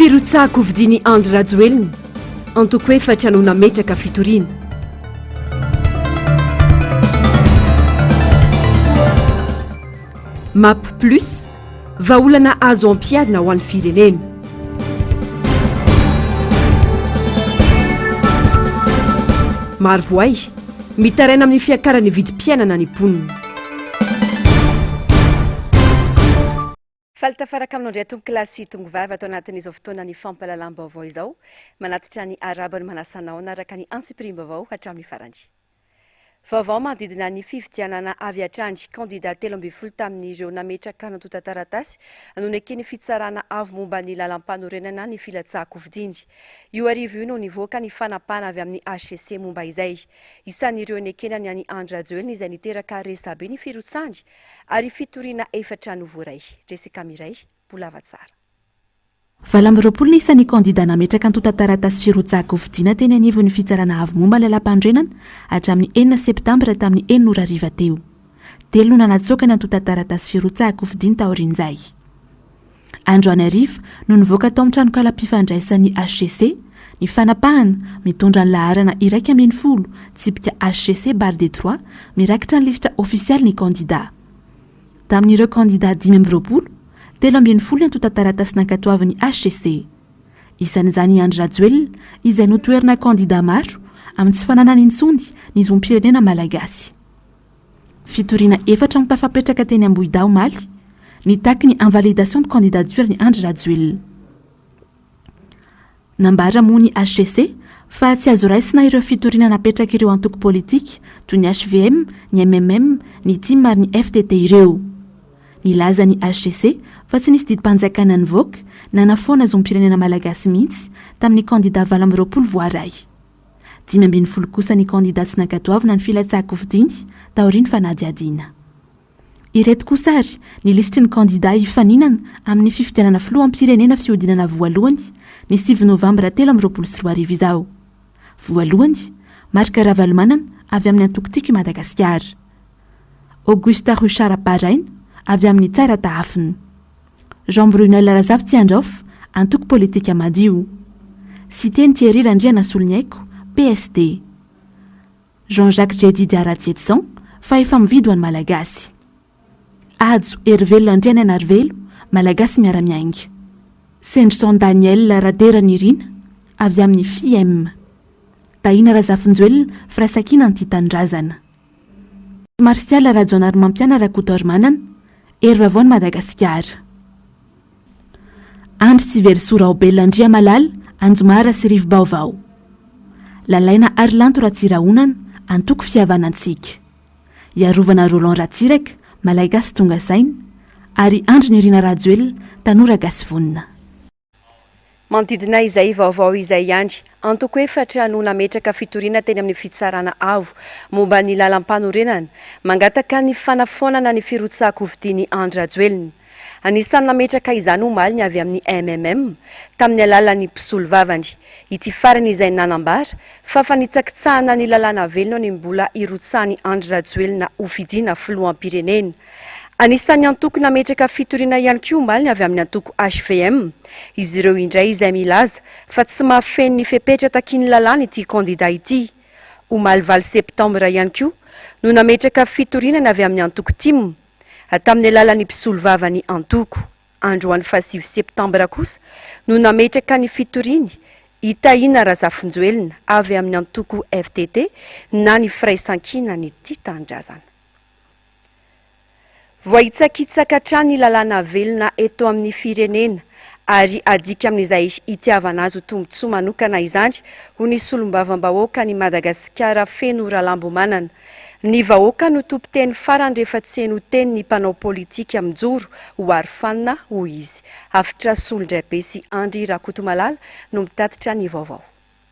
Firotsahan-kofidian'i Andry Rajoelina, antoko efatra no nametraka fitoriana. Map Plus, vahaolana azo ampiharina ho an'ny firenena. Marovoay, mitaraina amin'ny fiakaran'ny vidim-piainana ny mponina. Faly tafaraka aminao indray tompokolahy sy tongovavy ato anatin'izao fotoanan'ny fampahalalam-baovao izao. Manatitra ny arabo ny manasanao hanaraka ny antsipirim-baovao hatramin'ny farany. Vaovao manodidina ny fifidianana avy hatrany, kandida telo ambin'ny folo tamin'ireo nametraka antontan-taratasy no neken'ny fitsarana avo momba ny lalampanorenana ny filatsahan-kofidiny. Io arivo io no nivoaka ny fanapahana avy amin'ny hcc momba izay. Isan'ireo nekena ny an'i Andry Rajoelina izay niteraka resabe ny firotsahany ary fitoriana efatra no voaray. Jessica Miray, Bolava Tsara. Valo amby roapolo ny isan'ny kandidà nametraka antontan-taratasy firotsahan-kofidina teny anivon'ny Fitsarana Avo momba ny Lalàmpanorenana hatramin'ny enina Septambra tamin'ny enina ora hariva teo. Telo no nanatsoaka ny antontan-taratasy firotsahan-kofidiny taorian'izay. Androany hariva no nivoaka tao amin'ny tranonkalam-pifandraisan'ny HCC ny fanapahana mitondra ny laharana iraika ambin'ny folo tsipika HCC barre des trois mirakitra ny lisitra ofisialy ny kandidà. Tamin'ireo kandidà dimy amby roapolo, telo ambin'ny folo ny antontan-taratasy nankatoavin'ny HCC. Isan'izany i Andry Rajoelina izay notoherina kandidà maro amin'ny tsy fananany intsony ny zom-pirenena malagasy. Fitoriana efatra no tafapetraka teny Ambohidahy omaly, nitaky ny invalidation de candidature an'i Andry Rajoelina. Nambara moa ny HCC fa tsy azo raisina ireo fitoriana napetrak'ireo antoko politika toy ny hvm, ny MMM, ny tim ary ny FTT ireo. Nilaza ny HCC fa tsy nisy didim-panjakana nivoaka nanafoana zom-pirenena malagasy mihitsy tamin'ny kandida valo amby roapolo voaray. Dimy ambin'ny folo kosa ny kandidà tsy nankatoavina ny filatsahan-kofidiny taorian'ny fanadihadiana. Ireto kosa ary ny lisitry ny kandidà hifaninana amin'ny fifidianana filoham-pirenena fihodinana voalohany ny sivy novambra telo amby roapolo sy roa arivo izao. Voalohany, Marc Ravalomanana avy amin'ny antoko Tiako i Madagasikara. Auguste Ruchard Baraina avy amin'ny Tsara Tahafina. Jean Brunel Razafitsiandraofa, antoko politika Madio. Siteny Thierry Randrianasoloniaiko, PSD. Jean Jacques Jedida Ratsietison, Fahefa-mividy ho an'ny Malagasy. Hajo Herivelona Andrianainarivelo, Malagasy Miara-miainga. Sendrison Daniel Raderanirina, avy amin'ny FIM. Tahina Razafinjoelina, Firaisankina Antitanindrazana. Martial Rajaonarimampiana Rakotoarimanana, Hery Vaovaon'i Madagasikara. Andry Tsiverisoa Raobelina Andriamalala, Anjomara sy Rivobaovao. Lalaina Harilanto Ratsirahonana, Antoko Fihavanantsika. Iarovana Roland Ratsiraka, Malagasy tonga saina, ary Andry Nirina Rajoelina, Tanora gasy vonona. Manodidina izay vaovao izay ihany, antoko efatra no nametraka fitoriana teny amin'ny Fitsarana Avo momba ny lalampanorenana, mangataka ny fanafoanana ny firotsahan-kofidian'i Andry Rajoelina. Anisan'ny nametraka izany omaly ny avy amin'ny MMM, tamin'ny alalan'ny mpisolovavany, ity farany izay nanambara fa fanitsakitsahana ny lalàna velona ny mbola hirotsahan'i Andry Rajoelina ho fidiana filoham-pirenena. Anisan'ny antoko nametraka fitoriana ihany koa omaly ny avy amin'ny antoko hvm. Izy ireo indray izay milaza fa tsy mahafeno ny fepetra takian'ny lalàna ity kandida ity. Omaly valo septambra ihany koa no nametraka fitoriana ny avy amin'ny antoko tim. Tamin'ny alalan'ny mpisolovavany antoko. Androany faha sivy septambra kosa no nametraka ny fitoriany i Tahina Razafinjoelina avy amin'ny antoko ftt na ny firaisankina ny tia tanindrazana. Voahitsakitsaka hatrany ny lalàna velona eto amin'ny firenena ary adika amin'izay hitiavana azy ho tombontsoa manokana izany, hoy ny solombavambahoaka an'i Madagasikara Feno Ralambomanana. Ny vahoaka no tompon-teny farany rehefa tsy heno teny ny mpanao politika mijoro ho arofanina, hoy izy. Hafitra solondraibe sy Andry Rakotomalala no mitatitra ny vaovao.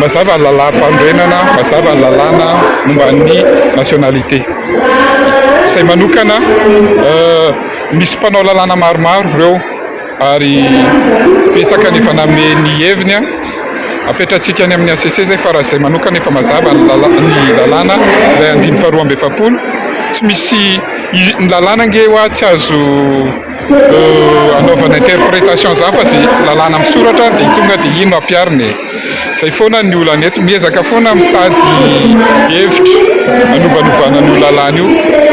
Mazava ny lalàm-panorenana, mazava ny lalàna momba ny nationalité. Izay manokana, misy mpanao lalàna maromaro ireo ary betsaka ny efa nanome ny heviny. Apetratsika any amin'ny HCC izay fa raha izay manokana efa mazava ny lalàna izay andininy faharoa amby efapolo. Tsy misy, ny lalàna ange ho'a tsy azo... anaovana interpretation za fa ze lalàna am soratra de tonga de iny no ampiarina e zay foana ny olana eto miezaka foana mitady hevitra anovanovana an'io lalàna io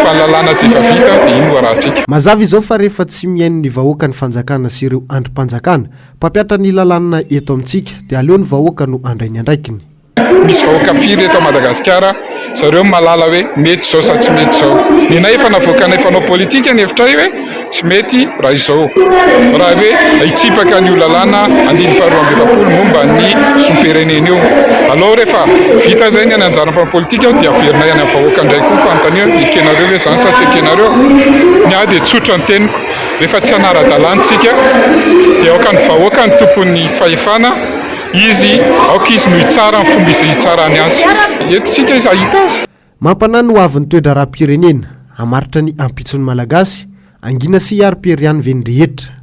fa ny lalàna ze efa vita de iny no arahantsika. Mazava izao fa rehefa tsy mihaino ny vahoaka ny fanjakana sy ireo andrim-panjakana mpampiatra ny lalàna eto amintsika de aleo ny vahoaka no handray ny andraikiny. Misy vahoaka firy eto Madagasikara, zareo no mahalala hoe mety izao sa tsy mety izao. Nenay efa navoakanay mpanao politika ny hevitray hoe tsy mety raha izao, raha hoe hitsipaka an'io lalàna andininy faharoa amby efapolo momba ny zom-pirenena io. Alou rehefa vita izay ny any anjara mpanao politika dia averinay any amin'ny vahoaka indray koa fanontaniana hoe ekenareo ve izany sa tsy ekenareo. Ny ahy dia tsotra ny teniko, rehefa tsy hanara-dalàna tsika dia aoka ny vahoaka no tompon'ny fahefana, Izy, aoka izy no hitsara ny fomba izay hitsarany azy. Eto isika izy hahita azy. Mampanahy ny hoavin'ny toe-draharaham-pirenena, hamaritra ny ampitson'ny Malagasy, hangina sy hiaro Périane ve ny rehetra?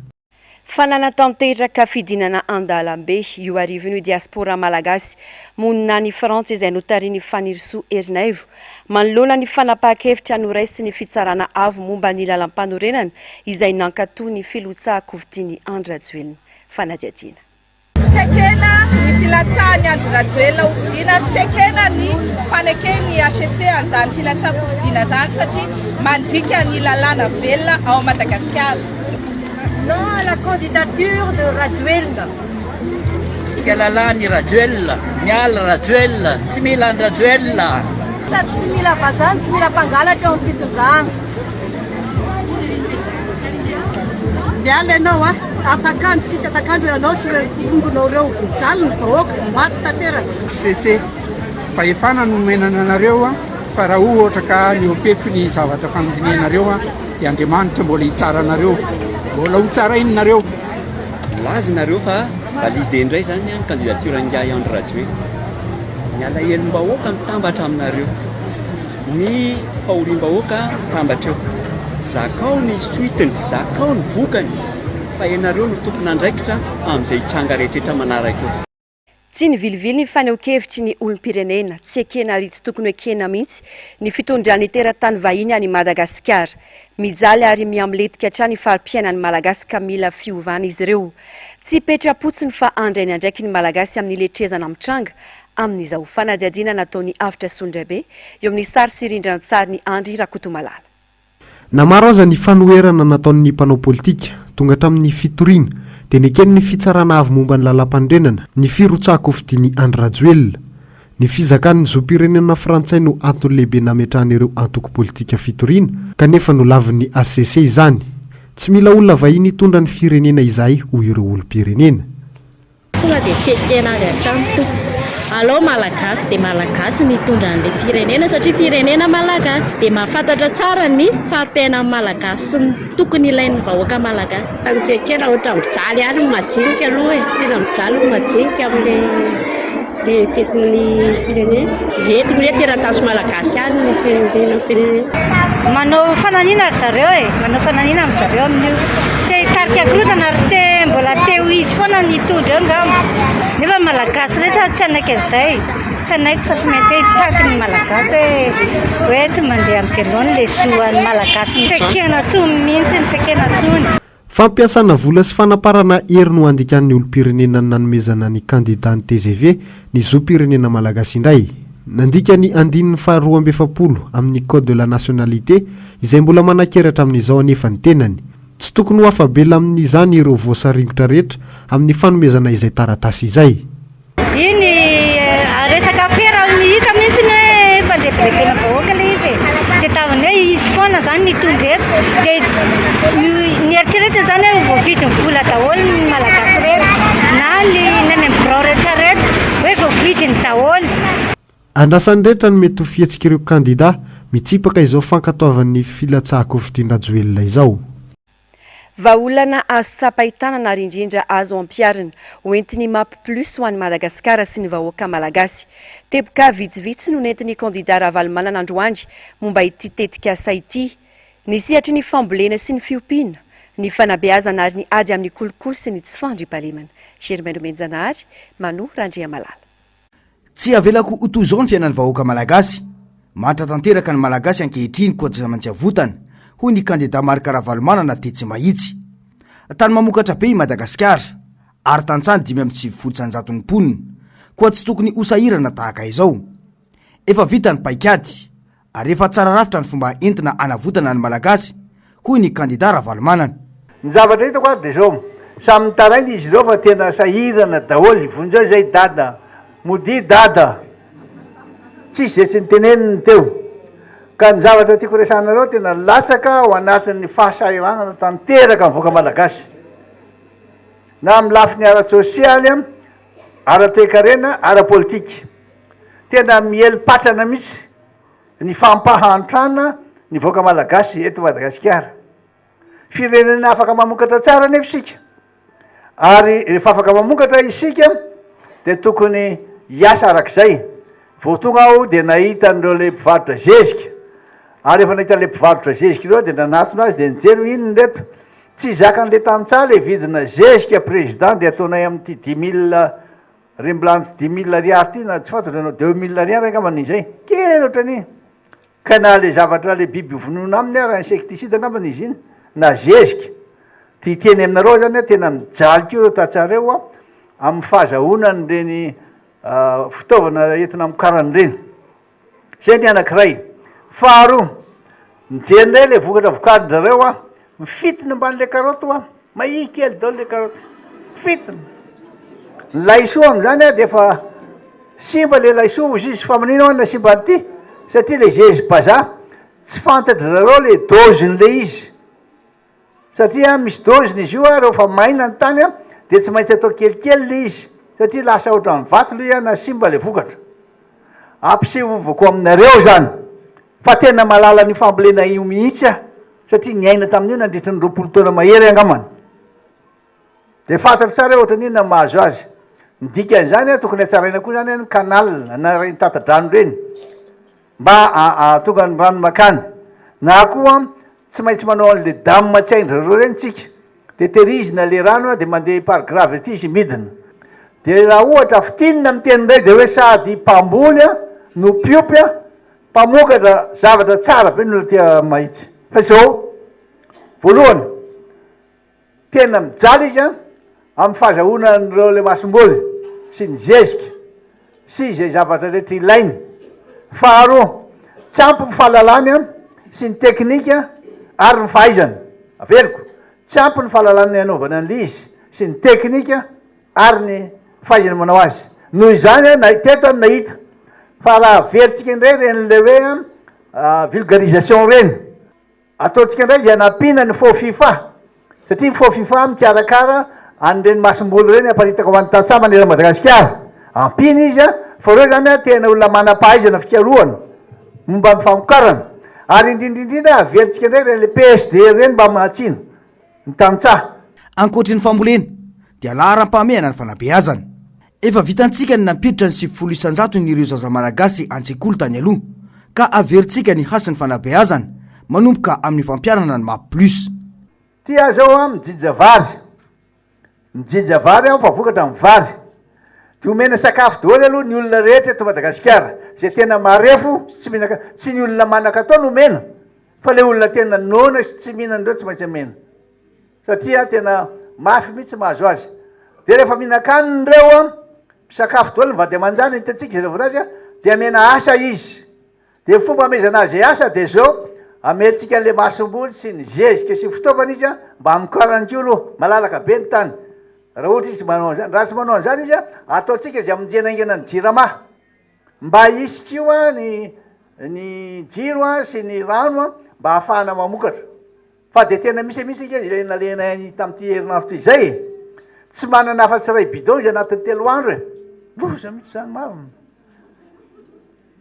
Fa nanatanteraka fidinana an-dalambe io arivony io diaspora malagasy monina any Frantsa izay notarihin'i Fanirisoa Ernaivo manoloana ny fanapahan-kevitra noraisin'ny Fitsarana Avo momba ny Lalampanorenana izay nankato ny Filoha Kovitiny Andry Rajoelina. Fanadihadiana. Tsy ekena ny filatsahan'i Andry Rajoelina ho fidiana ary tsy ekena ny faneken'ny HCC an'izany filatsam-pifidiana izany satria mandika ny lalàna velona ao Madagasikara. Non à la candidature de Rajoelina. Tsika lalàn'i Rajoelina, miala Rajoelina, tsy mila an-dRajoelina. Sady tsy mila vazaha no tsy mila mpangalatra eo amin'ny fitondrana. Miala ianao a! Afak'andro tsisy afak'andro ianao sy ireo mpiombonao ireo. Mijaly ny vahoaka, maty tanteraka. HCC, fahefana no nomenana anareo fa raha ohatra ka mihoa-pefy ny zavatra fandinihanareo dia Andriamanitra mbola hitsara anareo, mbola hotsarainy nareo. Milaza ianareo fa valide indray zany ny candidature-n'ingahy Andry Rajoelina. Ny alahelom-bahoaka mitambatra aminareo. Ny fahoriam-bahoaka mitambatra eo. Zakao ny suite-ny, zakao ny vokany fa ianareo no tompon'andraikitra amin'izay hitranga rehetra manaraka eo. Tsy ny vilivily ny fanehoan-kevitry ny olom-pirenena, tsy ekena ary tsy tokony ho ekena mihitsy ny fitondran'ny teratany vahiny an'i Madagasikara. Mijaly ary mihamletika hatrany fari-piainan'ny Malagasy ka mila fiovana izy ireo. Tsy petra-potsiny fa handray ny andraikiny ny Malagasy amin'ny letrezana mitranga amin'izao fanadihadiana nataon'ny Avotra Solondraibe eo amin'ny sary sy rindran-tsarin'i Andry Rakotomalala. Na maro aza ny fanoherana nataon'ny mpanao politika, tonga hatramin'ny fitoriana, dia nekeny ny Fitsarana Avo momba ny Lalàmpanorenana, ny firotsahan-kofidian'i Andry Rajoelina. Ny fizakan'ny zom-pirenena frantsay no antony lehibe nametrahan'ireo antoko politika fitoriana, kanefa nolavin'ny hcc izany. Tsy mila olona vahiny hitondra ny firenena izahay, hoy ireo olom-pirenena. Tonga dia tsy ekena avy hatrany tompoko. Alao Malagasy dia Malagasy no hitondra an'ilay firenena satria firenena Malagasy dia mahafantatra tsara ny fari-piainan'ny Malagasy sy ny tokony ilain'ny vahoaka Malagasy. Tena tsy ekena, ohatran'ny mijaly ihany ny majinika aloha e, tena mijaly ny majinika amin'ilay. Dia tetikn ny firenena. Dia eto hoe teratasy malagasy any ny firenena firenena. Manao fananina ry zareo e, manao fananina am zareo amin'io. Te hitarika korontana ary te mbola te ho izy foana ny hitondra eo ngamba. Nefa malagasy rehetra tsy hanaiky an'izay. Tsy hanaiky fa tsy maintsy hoe hitaky ny malagasy hoe hoe tsy mandeha am ze laoniny le zo an'ny malagasy. Tsy ekena tsony mihintsy, tsy ekena tsony. Fampiasana vola sy fanaparana hery no andikan'ny olom-pirenena ny nanomezana ny kandida ny tgv, ny zom-pirenena malagasy indray. Nandika ny andininy faha roa amby efapolo amin'ny Code de la nationalité, izay mbola manankery hatramin'izao anefa ny tenany. Tsy tokony ho afa-bela amin'izany ireo voasaringotra rehetra amin'ny fanomezana izay taratasy izay. Iny resaka afera ao ny hita mihitsy ny hoe fandrebirebena vahoaka ilay izy e. Dia tamin'ny hoe izy foana izany nitondra eto dia nieritreretina izany hoe voavidin'ny vola daholo ny Malagasy rehetra na ny any amin'ny birao rehetra rehetra hoe voavidiny daholo. Andrasan'ny rehetra ny mety ho fihetsik'ireo kandida mitsipaka izao fankatoavan'ny filatsahan-kofidian-dRajoelina izao. Vahaolana azo tsapain-tanana ary indrindra azo ampiharina, ho entin'ny Map Plus ho an'i Madagasikara sy ny vahoaka Malagasy. Teboka vitsivitsy no nentin'ny kandidà Ravalomanana androany momba ity tetikasa ity. Ny sehatry ny fambolena sy ny fiompiana, ny fanabeazana ary ny ady amin'ny kolikoly sy ny tsy fandriampahalemana. Germain Nomenijanahary, Manu Randriamalala. Tsy havelako ho toy izao ny fiainan'ny vahoaka malagasy. Manitra tanteraka ny Malagasy ankehitriny koa tsy maintsy avotana, hoy ny kandida Marc Ravalomanana tetsy Mahitsy. Tany mamokatra be i Madagasikara, ary tantsaha dimy amby sivifolo sy an-jatony mponina, koa tsy tokony ho sahirana tahaka izao. Efa vita ny paikady, ary efa tsara rafitra ny fomba entina hanavotana ny Malagasy, hoy ny kandida Ravalomanana. Ny zavatra hitako ary dia zao, samy mitaraina izy ireo fa tena sahirana daholo, vonjeo izay dada, modia dada, tsisy izay tsy niteneniny teo, ka ny zavatra tiako resahanareo tena latsaka ao anatin'ny fahasahiranana tanteraka ny vahoaka Malagasy, na amin'ny lafiny ara-tsosialy, ara-toekarena, ara-politika. Tena miely patrana mihitsy ny fampahantrana ny vahoaka malagasy eto Madagasikara. Firenena afaka mamokatra tsara anefa isika ary rehefa afaka mamokatra isika dia tokony hiasa arak'izay. Vao tonga aho dia nahita an'ireo ilay mpivarotra zezika ary rehefa nahita ilay mpivarotra zezika ireo dia nanatona azy dia nijery hoe inona ireto. Tsy zakan'ilay tantsaha ilay vidina zezika président dia ataonay amin'ity dix mille Re mbola antsy dimy mille ariary ty na tsy fantatro ianao deux mille ariary angamba ny izay kely ohatrany ka na le zavatra le biby hovonoina aminy ary insecticide angamba ny izy iny na zezika ty hiteny aminareo zany ah tena mijaly ko reo tantsareo ah amin'ny fahazahoana an'ireny fitaovana entina amokarany ireny Zay ny anankiray. Faharoa, mijery indray ilay vokatra vokarin-dRareo aho, mifitiny ambanin'ilay karaoty aho, mahia kely daholo ilay karaoty, fitiny. Ny laisoa amin'izany dia efa simba ilay laisoa hoy izy, fa manina hono ilay simba an'ity? satria ilay zezibazaha, tsy fantatr'dRareo ilay dôzin'ilay izy. Satria misy doziny izy io ary rehefa maina ny tany dia tsy maintsy atao kelikely ilay izy satria lasa ohatran'ny vato ilay izy na simba ilay vokatra. Ampisehovako aminareo izany fa tena mahalala an'io fambolena io mihitsy aho satria niaina tamin'io nandritry ny roapolo taona mahery angambany. Dia fantatro tsara hoe ohatran'ny inona ny mahazo azy. Ny dikan'izany, tokony hatsaraina koa izany ny canal na ireny tata-drano ireny. Mba ahatonga ny rano makany. Na koa tsy maintsy manao an'le dam tsy hain-dry reo reny tsika. De terizina le rano de mandeha par gravity izy midina. De raha ohatra fintinina ny teny ndray de hoe sady mpamboly no mpiompy mpamokatra zavatra tsara be ny olona aty mahitsy. Fa izao voalohany. Tena mijaliaka amin'ny fahazahoana an'ireo lemasomboly sy ny zezika sy izay zavatra rehetra ilainy. Faharoa, tsy ampy ny fahalalany sy ny teknika ary ny fahaizany. Averiko, tsy ampy ny fahalalany hanaovana an'ilay izy sy ny teknika ary ny fahaizany manao azy. Noho izany, na teto aho no nahita fa raha averintsika indray ireny ilay hoe vulgarisation ireny, Ataontsika indray izay hanampiana ny Fofifa, satria ny Fofifa mikarakara an'ireny masomboly ireny haparitaka ho an'ny tantsaha manerana an'i Madagasikara. Ampiana izy fa ireo izany tena olona manam-pahaizana fikarohana momba ny famokarana. Ary indrindra indrindra averintsika indray ireny PSD ireny mba mahatsino ny tantsaha. Ankoatry ny fambolena dia laharam-pahamehana ny fanabeazana. Efa vitantsika ny nampiditra ny sivifolo isan-jatony ireo zaza Malagasy an-tsekoly tany aloha, ka averintsika ny hasin'ny fanabeazana, manomboka amin'ny fampianana ny map plus. Ty aza aho an mijija vary, mijija vary aho fa vokatra ny vary. Dia omena sakafo daholo aloha ny olona rehetra eto Madagasikara. Izay tena marefo tsy mihinana, tsy ny olona manakatao no omena fa ilay olona tena noana sy tsy mihinana ireo tsy maintsy omena. satria tena mafy mihitsy mahazo azy dia rehefa mihinan-kanina ireo a misakafo daholo ny vady aman-janany hitantsika izay volazy a dia amena asa izy dia fomba amezana azy asa dia zao ameantsika an'ilay masomboly sy ny zezika sy ny fitaovana izy a mba hamokarany koa aloha malalaka be ny tany raha ohatra izy manao an'izany raha tsy manao an'izany izy a ataontsika izay amonjena aingana ny jirama mba hisy koa ny ny jiro a sy ny rano a mba hahafahana mamokatra Fa dia tena misy mihitsy ange izay nalehina ainy tamin'ity herinandro ity izay e! Tsy manana afa-tsy iray bidon izy anatin'ny telo andro e! Loza mihitsy izany marina.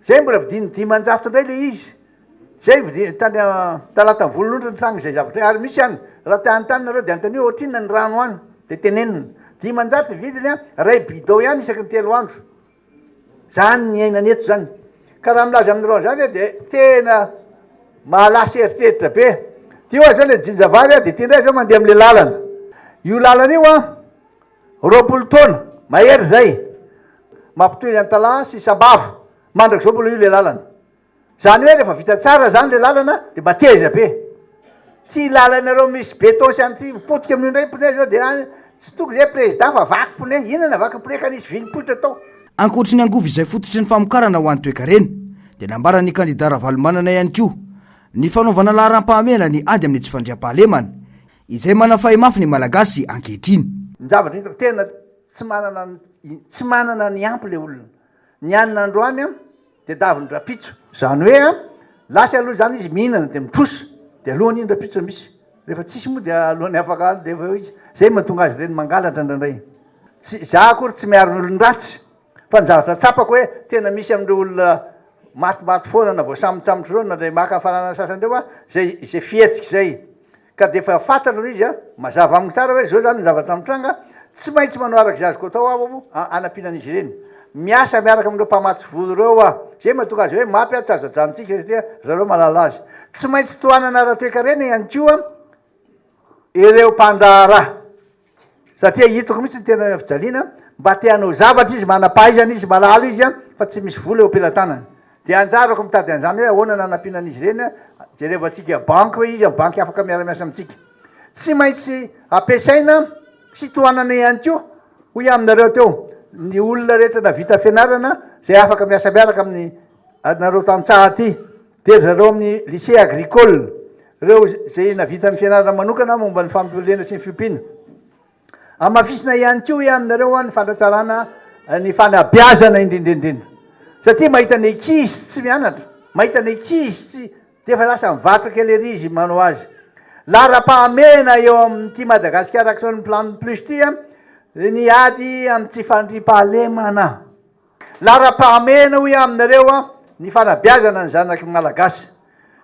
Izay mbola vidin'ny dimanjato indray ilay izy. Izay vidiny tany Talata ny volonondry nitranga izay zavatra izay. Ary misy ihany, raha te hanontany nareo dia anontanio ohatrinona ny rano any dia tenenina. Dimanjato ny vidiny an, iray bidon ihany isaky ny telo andro. Zany ny iainana eto zany. Ka raha milaza aminareo an'zany aho dia tena mahalasa eritreritra be. Ty oa zao le jinja vary a, de ty ndray zao mandeha amle lalana. Io lalana io an, roapolo taona mahery zay, mampitohy antalaha sy sambava. Mandrakizao mbola io le lalana. Zany hoe rehefa vita tsara zany le lalana de mba teza be. Ty lalanareo misy beton sy anty potika amin'io ndray pneu zao de any tsy tokony zay président fa vaky pneu, inona na vaky pneu ka nisy vy nipoitra tao. Ankoatry ny angovo izay fototry ny famokarana ho an'ny toekarena, dia nambaran'ny kandida Ravalomanana ihany koa ny fanaovana laharampahamehana ny ady amin'ny tsy fandriampahalemana, izay manafay mafy ny Malagasy ankehitriny. Ny zavatra hitako tena tsy manana tsy manana ny ampy le olona. Ny anona androany an, Tedaviny rapitso. Zany hoe an, lasa aloha zany izy mihinana dia mitrosa dia aloany iny rapitso misy. Rehefa tsisy moa dia aloany afaka any dia eo izy. Zay mahatonga azy ireny mangalatra indraindray. Tsy, za akory tsy miaro ny olon-dratsy fa ny zavatra tsapako hoe tena misy amin'ireo olona matimaty foana na voasambontsambotra ireo na le maka hafanana sasany ireo an, izay izay fihetsika izay. Ka dia efa fantatra ilay izy a! Mazava amiko tsara hoe izao izany ny zavatra mitranga, tsy maintsy manao araka izay azoko atao aho hanampiana an'izy ireny. Miasa miaraka amin'ireo mpamatsy vola ireo aho. Izay mahatonga azy hoe mapy a, tsy azo ajanontsika izy ity a, ry zareo mahalala azy. Tsy maintsy tohanana ara-toekarena ihany koa ireo mpandraharaha. Satria hitako mihitsy ny tenany fijaliana mba te hanao zavatra izy, manam-pahaizana izy, malala izy fa tsy misy vola eo am-pelatanany. Dia anjarako mitady an'izany hoe ahoana no hanampiana an'izy ireny, jerevantsika banky hoe iza ny banky afaka miara-miasa amintsika. Tsy maintsy ampiasaina sy tohanana ihany koa hoy aho aminareo teo ny olona rehetra navita fianarana izay afaka miasa miaraka amin'ny anareo tantsaha aty Dia ry zareo amin'ny lycée agricole, ireo izay nahavita ny fianarana manokana momba ny fambolena sy ny fiompiana. Hamafisina ihany koa hoe aminareo ny fanatsarana ny fanabeazana indrindraindrindra. Satria mahita ny ankizy tsy mianatra, mahita ny ankizy tsy dia efa lasa mivatra kely ery izy manao azy. Laharam-pahamehana eo amin'ity Madagascar Action Plan Plus ity ny ady amin'ny tsy fandriampahalemana. Laharam-pahamehana hoy aho aminareo ny fanabeazana ny zanaky ny Malagasy.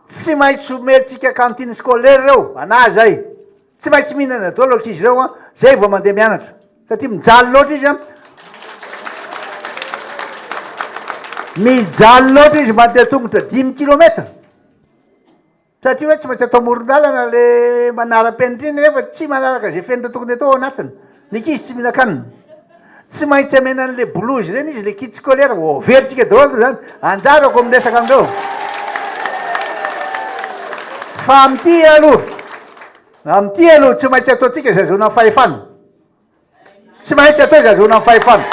Tsy maintsy omentsika cantine scolaire ireo ana izay. Tsy maintsy mihinana daholo ankizy ireo izay vao mandeha mianatra satria mijaly loatra izy an. Mijaly loatra izy mandeha tongotra dimy kilometatra. Satria hoe tsy maintsy atao amoron-dalana le manaram-penitry nefa tsy manaraka izay fenitra tokony atao ao anatiny. Ny ankizy tsy mihinan-kanina. Tsy maintsy amena an'ilay bolozy ireny izy, ilay kit scolaire, ho averintsika daholo aloha izany. Anjarako amin'ny resaka amin'ireo. Fa amin'ity aloha, amin'ity aloha tsy maintsy ataontsika izay ahazoana fahefana. Tsy maintsy atao izay azahoana ny fahefana.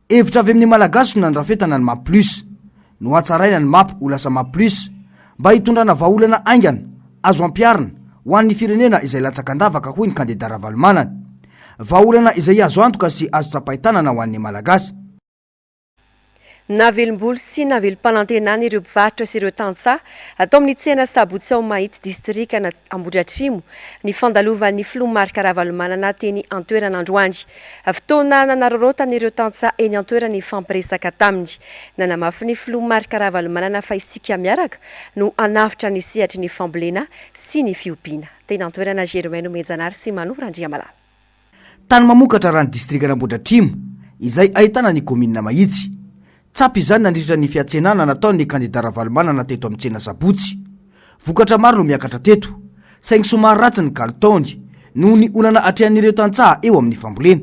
Hevitra avy amin'ny Malagasy no nandrafetana ny Mapplus. Nohatsaraina ny Map ho lasa Mapplus mba hitondrana vahaolana haingana, azo ampiharina, ho an'ny firenena izay latsaka an-davaka hoy ny kandida Ravalomanana. Vahaolana izay azo antoka sy azo tsapain-tanana ho an'ny Malagasy. Navelombolo sy navelom-panantenana ireo mpivarotra sy ireo tantsaha tao amin'ny tsena sabotsy ao Mahitsy distrikan' Ambohidratrimo ny fandalovan'ny filoha Marc Ravalomanana teny an-toerana androany. Fotoana nanararaotan'ireo tantsaha eny an-toerana nifampiresaka taminy. Nanamafy ny filoha Marc Ravalomanana fa isika miaraka no hanavotra ny sehatry ny fambolena sy ny fiompiana. Teny an-toerana Germain Nomenjanary sy Manoa Randriamalala. Tany mamokatra raha ny distrikan'Ambohidratrimo, izay ahitana ny kaominina Mahitsy. Tsapy izany nandritra ny fiantsenana nataon'ny kandida Ravalomanana teto amin'ny tsena sabotsy. Vokatra maro no miakatra teto, saingy somary ratsy ny kalitaony, noho ny olana atrehan'ireo tantsaha eo amin'ny fambolena.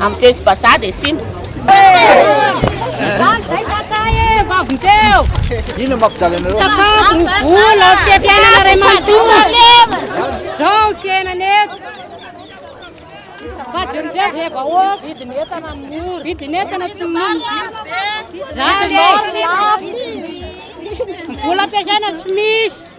Amzeo izy bazaha dia simba. Ino mampijaly anareo? Sakafo, ny vola, fiafianana ray manontolo. Zao ny fiainana eto. Fa jerojero dia vahoaka. Vidin'entana mora. Vidin'entana tsy mora. Zany e. Vola ampiasaina tsy misy.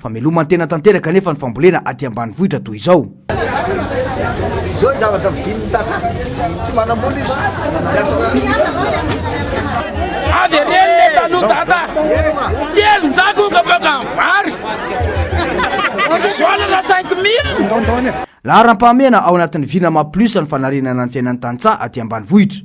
Fameloman-tena tanteraka anefa ny fambolena aty ambanivohitra toy izao. Izao ny zavatra vidin'ny tantsaha, tsy manambola izy. Avy eny le taloha dada, telo njagoka baka ny vary. Soalana 5000. Laharam-pahamehana ao anatin'ny Vinama Plus ny fanarenana ny fiainan'ny tantsaha aty ambanivohitra.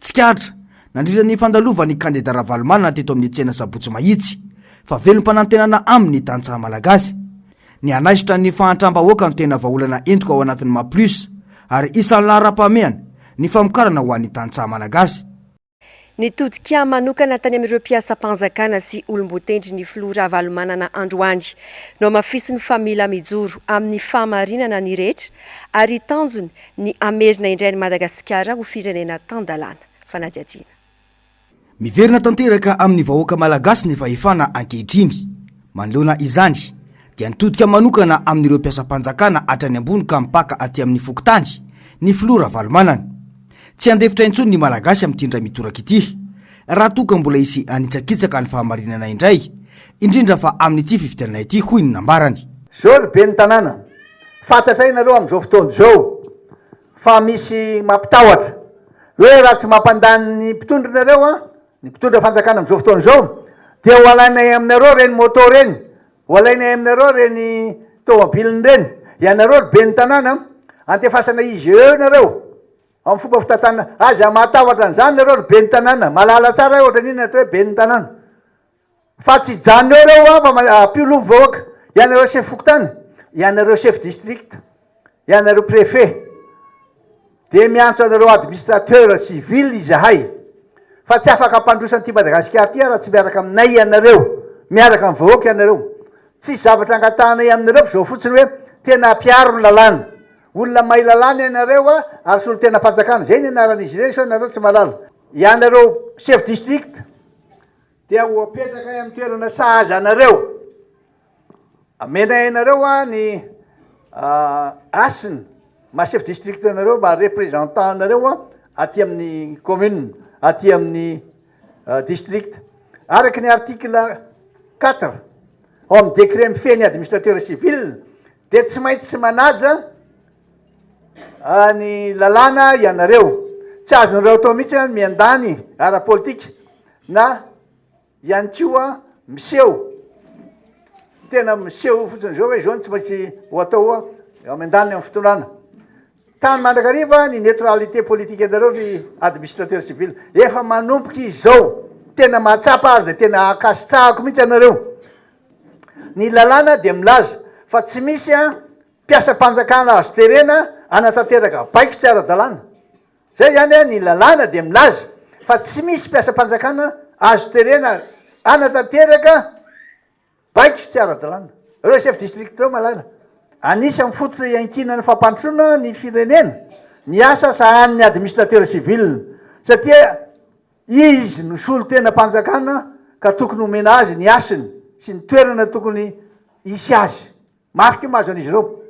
Tsikaritra, nandritra ny fandalovan'ny kandida Ravalomanana teto amin'ny tsena sabotsy mahitsy, fa velom-panantenana aminy ny tantsaha malagasy. Nihanaisotra ny fahantram-bahoaka no tena vahaolana entiko ao anatin'ny Maha Plus ary isan'ny laharam-pahamehana ny famokarana ho an'ny tantsaha malagasy. Nitodika manokana tany amin'ireo mpiasam-panjakana sy olom-botendry ny filoha Ravalomanana androany. Nohamafisiny fa mila mijoro amin'ny fahamarinana ny rehetra ary tanjony ny hamerina indray an'i Madagasikara ho firenena tan-dalàna. Fanadihadiana. Miverina tanteraka amin'ny vahoaka malagasy ny fahefana ankehitriny. Manoloana izany, dia nitodika manokana amin'ireo mpiasam-panjakana hatrany ambony ka mpaka aty amin'ny fokontany, ny filoha Ravalomanana. Tsy handefitra intsony ny Malagasy amin'ity indray mitoraka ity, raha toa ka mbola hisy hanitsakitsaka ny fahamarinana indray, indrindra fa amin'ity fifidianana ity, hoy ny nambarany. Zao ny ben'ny tanàna, Fantatray nareo amin'izao fotoana izao fa misy mampitahotra hoe raha tsy mampandany ny mpitondra nareo an, ny mpitondra fanjakana amin'izao fotoana izao dia ho alainay aminareo ireny moto ireny, ho alainay aminareo ireny tomobilina ireny. Ianareo ry ben'ny tanàna antefasana IGE nareo amin'ny fomba fitantanana. Aza mahatahotra an'izany nareo ry ben'ny tanàna. Mahalala tsara hoe ohatran'inona ny atao hoe ben'ny tanàna. Fa tsy hijanona eo ireo ho'a, fa hampio loha ny vahoaka. Ianareo sefo fokontany, ianareo sefo district, ianareo préfet, dia miantso anareo administrateur sy ville izahay, fa tsy afaka hampandroso an'ity Madagasikara ity raha tsy miaraka aminay ianareo, miaraka amin'ny vahoaka ianareo. Tsisy zavatra angatahanay aminareo fa izao fotsiny hoe tena hampiaro ny lalàna. Olona mahay lalàna ianareo a, ary solontenam-panjakana. Izay ny anaran'izy ireny sao ianareo tsy mahalala. Ianareo sefo district. dia ho apetrakay amin'ny toerana sahaza anareo. Amenay anareo a ny asina ma chef district anareo mba représentant anareo a aty amin'ny commune aty amin'ny district araka ny article quatre ao amin'ny décret mifehy ny administrateur civil dia tsy maintsy manaja ny lalàna ianareo. Tsy azon'ireo atao mihitsy ny miandany ara-politika na ihany koa miseho, tena miseho fotsiny izao hoe izao no tsy maintsy ho atao eo amin'ny andaniny amin'ny fitondrana. Tany mandrakariva ny neutralité politique-nareo ry administrateur civil. Efa manomboka izao, tena mahatsapa ary dia tena ankasitrahako mihitsy anareo. Ny lalàna dia milaza fa tsy misy Mpiasam-panjakana azo terena hanatanteraka baiko tsy ara-dalàna. Izay ihany, ny lalàna dia milaza fa tsy misy mpiasam-panjakana azo terena hanatanteraka baiko tsy ara-dalàna. Ireo chef district ireo malala. Anisan'ny fototra iankinan'ny fampandrosoana ny firenena ny asa sahanin'ny administrateur civil satria izy no solontenam-panjakana ka tokony homena azy ny hasiny sy ny toerana tokony hisy azy. Mafy ity mahazo an'izy ireo.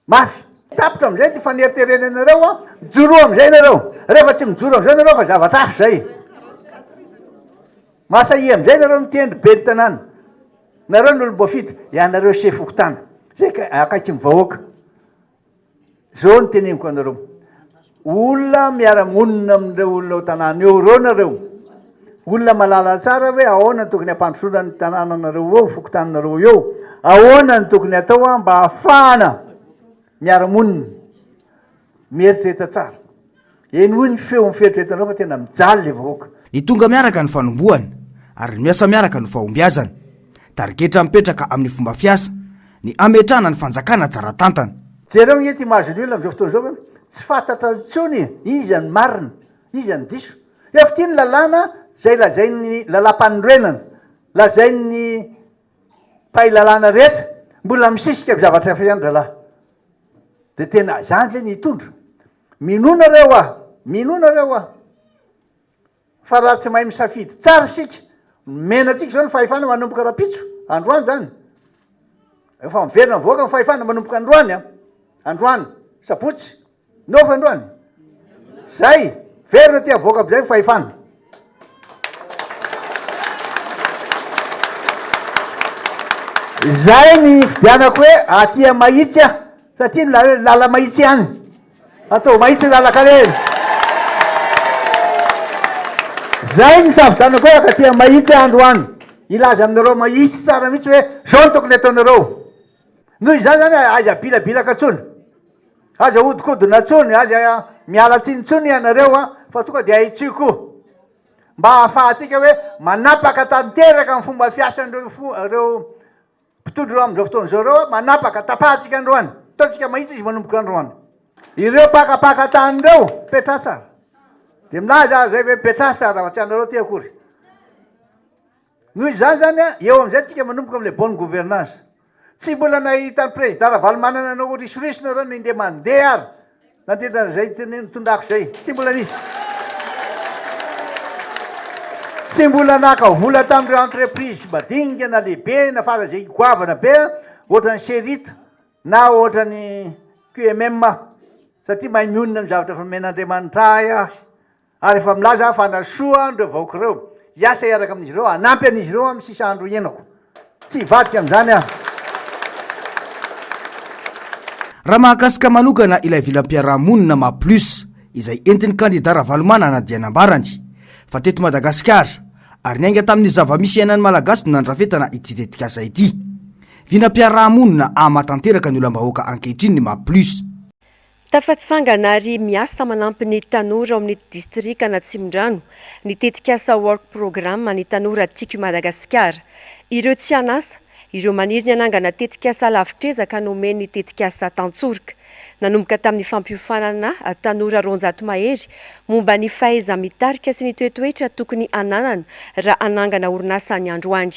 Mafy. Tapitra amin'izay ity faneriterenanareo an. Mijoroa amin'izay ianareo. Rehefa tsy mijoro amin'izao ianareo fa zavatra hafa izay. Mahasahia amin'izay ianareo mitendry ben'ny tanàna. Nareo ny olom-boafidy. Ianareo sefo fokontany. Izay akaikin'ny vahoaka. Zao no teneniko anareo olona miara-monina amin'ireo olona ao tanàna eo ireo nareo, olona malala tsara hoe ahoana no tokony hampandrosoana ny tanànanareo eo, fokontaninareo eo, ahoana no tokony hatao an mba hahafahana miara-monina, mieritreritra tsara. Eny hoy ny feony fieritreretanao fa tena mijaly le vahoaka. Ny tonga miaraka no fanombohana, ary ny miasa miaraka no fahombiazana. Tarigetra mipetraka amin'ny fomba fiasa, ny hametrahana ny fanjakana tsara tantana. Jereo ange ity maha général amin'izao fotoana izao fa tsy fantatra intsony iza ny marina, iza ny diso. Efa ity ny lalàna izay lazain'ny lalàmpanorenana, lazain'ny mpahay lalàna rehetra, mbola misisika zavatra hafa ihany rahalahy. Dia tena izany ve ny hitondra? Minoa nareo aho, minoa nareo aho, fa raha tsy mahay misafidy tsara isika, nomena antsika izao ny fahefana manomboka rahampitso, androany izany, efa miverina mivoaka ny fahefana manomboka androany an, androany, sabotsy, no fa androany? Zay, miverina aty avoaka amin'izay ny fahefana. Izay ny hividianako hoe aty amin'i Mahitsy aho, satria ny lala- lala mahitsy ihany. Ataovy mahitsy ny lalan-karena. Izay ny savitanako hoe ankatỳ amin'i Mahitsy aho androany, hilaza aminareo mahitsy tsara mihitsy hoe izao no tokony hataonareo. Noho izany izany, aza abilabilaka intsony, aza ahodikodina intsony, aza miala tsiny intsony ianareo fa tonga dia ahitsio koa, mba hahafahantsika hoe manapaka tanteraka ny fomba fiasan'ireo fo- ireo mpitondra ireo amin'izao fotoana izao ireo, manapaka, tapahantsika androany, ataontsika mahitsy izy manomboka androany. Ireo mpakapaka tany ireo, Petratsar, dia milaza azy izay ve, Petratsar, fa tsy anareo aty akory. Noho izany izany, eo amin'izay tsika manomboka amin'ilay bonne gouvernance. Tsy mbola nahita an'i Prezida Ravalomanana nanao risoriso nareo ny ndeha mandeha ary nandrindra an'izay nitondrako izay. Tsy mbola nisy. Tsy mbola naka vola tamin'ireo entreprise madinika na lehibe na fara izay goavana be ohatran'ny Cerit na ohatran'ny QMM aho satria mahay mionona amin'ny zavatra efa nomen'Andriamanitra ahy aho. Ary efa milaza aho fa hanasoa an ireo vahoaka ireo, hiasa hiaraka amin'izy ireo, hanampy an'izy ireo amin'ny sisa andro hiainako. Tsy hivadika amin'izany aho. Raha mahakasika manokana ilay vilam-piarahamonina maha plus izay entin'ny kandida Ravalomanana dia nambarany fa teto Madagasikara ary niainga tamin'ny zava-misy iainan'ny Malagasy no nandrafetana ity tetikasa ity. Vinam-piarahamonina ahamatanteraka ny olam-bahoaka ankehitriny ny maha plus. Tafatsangana ary miasa manampy ny tanora ao amin'ny distrikan' Atsimondrano ny tetikasa Work Programme an'ny tanora Tiako i Madagasikara. Ireo tsy an'asa, ireo maniry ny hanangana tetikasa lavitr'ezaka no omen'ny tetikasa tantsoroka. Nanomboka tamin'ny fampiofanana tanora roanjato mahery momba ny fahaiza-mitarika sy ny toetoetra tokony hananana raha hanangana orinasa ny androany.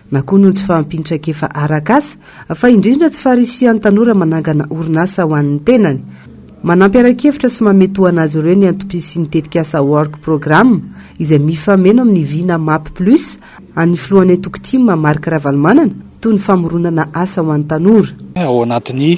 na koa noho ny tsy fahampian'ny traikefa arak'asa, fa indrindra tsy faharisihan'ny tanora manangana orinasa ho an'ny tenany. Manampy ara-kevitra sy mametoana azy ireo ny antom-pisian'ny tetikasa Work Program, izay mifameno amin'ny vina Map Plus an'ny filohan'ny antoko tim, Marc Ravalomanana, toy ny famoronana asa ho an'ny tanora. Ao anatin'ny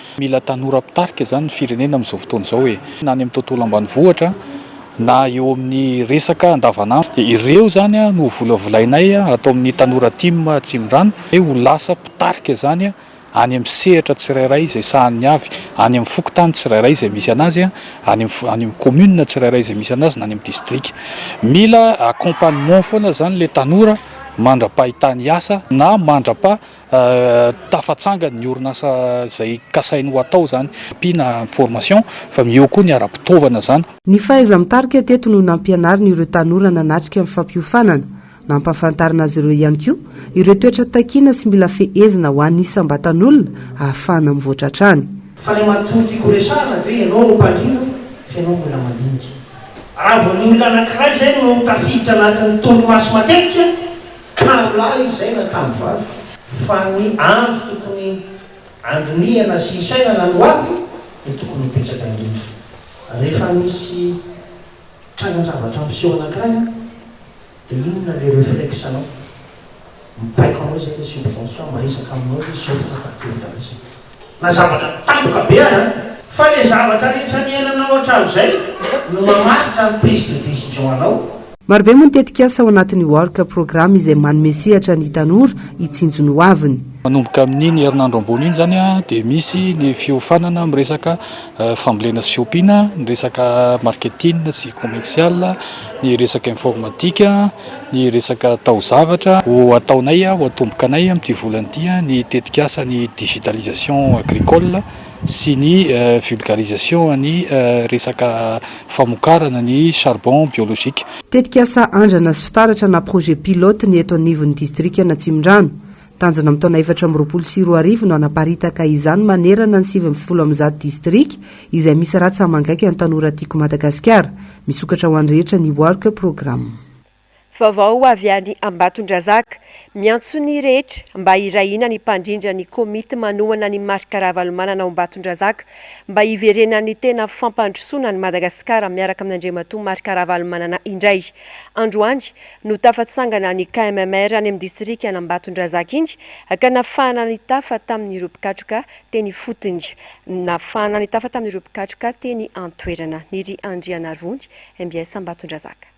Mila tanora mpitarika izany ny firenena amin'izao fotoana izao e! Na any amin'ny tontolo ambanivohitra, na eo amin'ny resaka andavanandro. Dia ireo izany no ho volavolainay ato amin'ny Tanora Tim Atsimondrano hoe ho lasa mpitarika izany any amin'ny sehatra tsirairay izay sahaniny avy, any amin'ny fokontany tsirairay izay misy an'azy, any amin'ny any amin'ny commune tsirairay izay misy an'azy na any amin'ny distrika. Mila accompagnement foana izany ilay tanora mandra-pahitany asa na mandra-pa. tafatsangany ny orinasa izay kasainy ho atao izany, ampiana ny formation fa eo koa ny ara-pitaovana izany. Ny fahaiza-mitarika teto no nampianarina ireo tanora nanatrika ny fampiofanana. Nampahafantarina azy ireo ihany koa ireo toetra takiana sy mila fehezina ho an'ny isam-batan'olona ahafahana mivoatra hatrany. Fa ilay matoa tiako horesahana dia hoe ianao no mpandrindra fa ianao mbola mandinika. Raha vao ny olona anankiray izay no tafiditra anatin'ny torimaso matetika, Tano lahy izay na tano vavy, fa ny andro tokony handinihana sy hisainana no avy no tokony ho betsaka indrindra. Rehefa misy trangan-javatra miseho anankiray an, dia inona ilay reflexe-nao? Mibaiko anao izay ilay subconscient, miresaka aminao izy, izao fanapahan-kevitra resaka. Na zavatra tampoka be aza, fa le zavatra rehetra niainanao hatramin'izay no mamaritra ny prise de décision anao. Marobe moa ny tetikasa ao anatin'ny Work Programme izay manome sehatra ny tanora hitsinjo ny hoaviny. Manomboka amin'iny herinandro ambony iny izany dia misy ny fiofanana amin'ny resaka fambolena sy fiompiana, ny resaka marketing sy commercial, ny resaka informatika, Ny resaka taozavatra, ho ataonay, ho atomboka anay amin'ity volana ity ny tetikasan'ny digitalisation agricole sy ny vulgarisation an'ny resaka famokarana ny charbon biologique. Tetikasa andrana sy fitaratra na projet pilote ny eto anivon'ny distrikan'Atsimondrano. Tanjona amin'ny taona efatra amby roapolo sy roa arivo no hanaparitaka izany manerana ny sivy ambin'ny folo amby zato distrika izay misy rà tsaha-mangaiky an'ny tanora tiako Madagasikara. Misokatra ho an'ny rehetra ny Work Programme. Vaovao avy any Ambatondrazaka, miantso ny rehetra mba hirahina ny mpandrindra ny komity manohana an'i Marc Ravalomanana ao Ambatondrazaka mba hiverenan'ny tena fampandrosoana an'i Madagasikara miaraka amin'Andriamatoa Marc Ravalomanana indray. Androany no tafatsangana ny KMMR any amin'ny distrikan'Ambatondrazaka iny ka nafahana nitafa tamin'ireo mpikatroka teny ifotony. Nafahana nitafa tamin'ireo mpikatroka teny an-toerana. Ny Ry Andrianarivony, mbs Ambatondrazaka.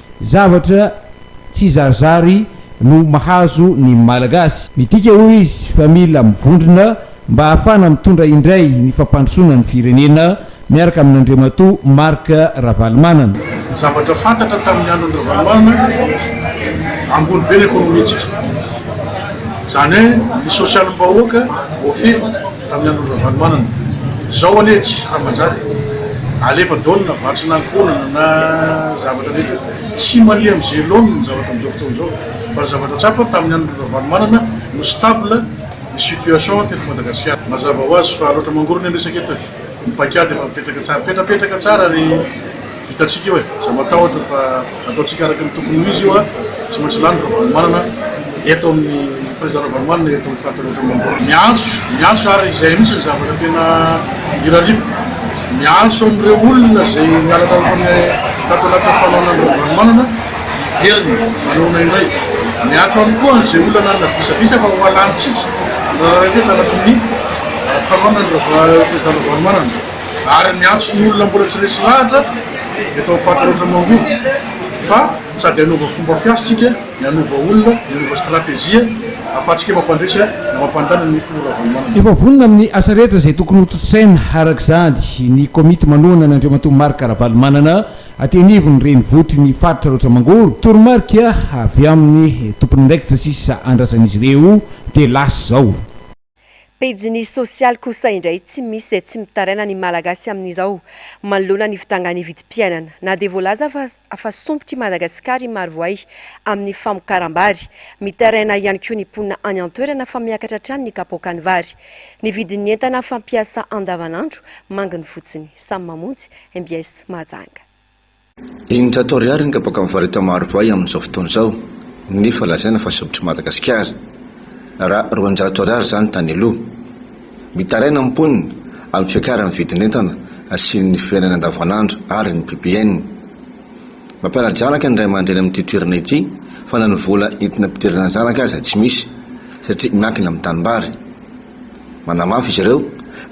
Zavatra tsy zarizary no mahazo ny Malagasy. Midika hoy izy fa mila mivondrona mba hahafana mitondra indray ny fampandrosoana ny firenena miaraka amin'Andriamatoa Marc Ravalomanana. Ny zavatra fantatra tamin'ny andron'i Ravalomanana, ambony be ny ekonomintsika. Izany hoe ny sosialim-bahoaka voafehy. Tamin'ny andron'i Ravalomanana. Izao anie tsy hisy raha manjary e. Alefa daholo na vatsy na ankohonana na zavatra rehetra. Tsy mandeha amin'ny ze laoniny ny zavatra amin'izao fotoana izao. Fa ny zavatra tsapa, tamin'ny andron'i Ravalomanana no stable ny situation teto Madagasikara. Mazava ho azy fa loatra mangorona ny resaka eto e. Ny paikady efa mipetraka tsara. Petrapetraka tsara ry. Vitantsika io e! Za matahotra fa ataontsika araka ny tokony ho izy io a! Tsy maintsy lany Ravalomanana eto amin'ny, Président Ravalomanana eto amin'ny faritra Avaratra Ambony. Miantso, miantso ary izay mihitsy ny zavatra tena irariako, miantso an'ireo olona izay niala tato tamin'ny tato anatin'ny fanaonan'i Ravalomanana hiverina manaona indray, miantso ihany koa an'izay olona nanana disadisa fa ho alanintsika ny raraham-be tanatin'ny fanaonan'i Président Ravalomanana. ary miantso ny olona mbola tsy resy lahatra dia atao faty loatra mangoby fa sady hanova fomba fiasa tsika ny hanova olona ny hanova stratejia afatsika mampandresy na mampandana ny filoha Ravalomanana. Efa vonona amin'ny asa rehetra izay tokony hotontosaina arak'izany ny komity manohana an' Andriamatoa Marc Ravalomanana aty anivon'ny renivohitry ny faritra Aroantsa Mangoro, toromarika avy amin'ny tompon'andraikitra sisa andrasan'izy ireo dia lasa izao. Pejiny sosialy kosa indray tsy misy izay tsy mitaraina ny Malagasy amin'izao manoloana ny fidangan'ny vidim-piainana. Na dia voalaza fa fa sompitr'i Madagasikara i Marovoay amin'ny famokaram-bary, mitaraina ihany koa ny mponina any an-toerana fa miakatra hatrany ny kapoakan'ny vary, ny vidin'ny entana fampiasa andavanandro, manginy fotsiny. Samy mamonjy, mbs mahajanga. Eninjato ariary ny kabaka mivareta marovahy amin'izao fotoana izao nefa lazaina fa sobitr'i Madagasikara, raha roanjato ariary izany tany aloha. Mitaraina ny mponina amin'ny fiakaran'ny vidin'entana sy ny fiainana andavanandro ary ny ppn. Mampiana-janaka ny ray aman-dreny amin'ity toerana ity fa na ny vola entina ampidirana zanaka aza tsy misy satria miankina amin'ny tanimbary. Manamafy izy ireo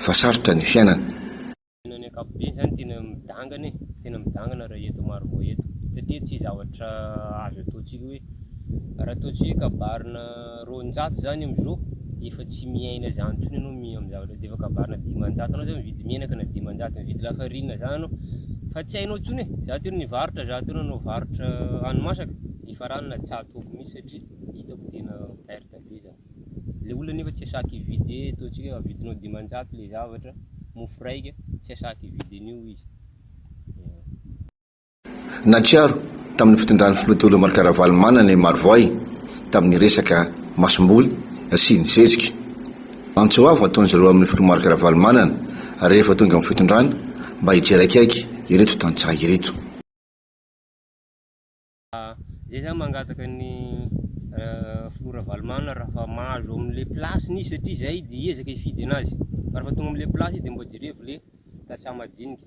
fa sarotra ny fiainana. Tena ny ankapobeny izany tena midangana e, tena midangana raha eto Marovoay eto satria tsy zavatra azo ataontsika hoe raha ataontsika hoe kabarina roanjato izany amin'izao efa tsy miaina izany intsony ianao miaina amin'ny zavatra dia efa kabarina dimanjato anao izao mividy menaka na dimanjato mividy lafarina izany ianao fa tsy hainao intsony e, izaho teo no nivarotra, izaho teo nanao varotra hani-masaka, nifarana zato aby mihintsy satria hitako tena perte be izany. Le olona nefa tsy asaky hividy e, ataontsika avidinao dimanjato le zavatra, mofo raika, tsy asaky hividy an'io izy. Nahatsiaro tamin'ny fitondran'ny filoha teo aloha Marc Ravalomanana i Marovoay tamin'ny resaka masomboly sy ny zezika. Antso avo ataon'izy ireo amin'ny filoha Marc Ravalomanana rehefa tonga amin'ny fitondrana mba hijery akaiky ireto tantsaha ireto. Zay zany mangataka ny filoha Ravalomanana raha fa mahazo amin'ilay place-ny izy satria zay dia hiezaka hifidy anazy fa raha fa tonga amin'ilay place izy dia mba jerevo ilay tantsaha madinika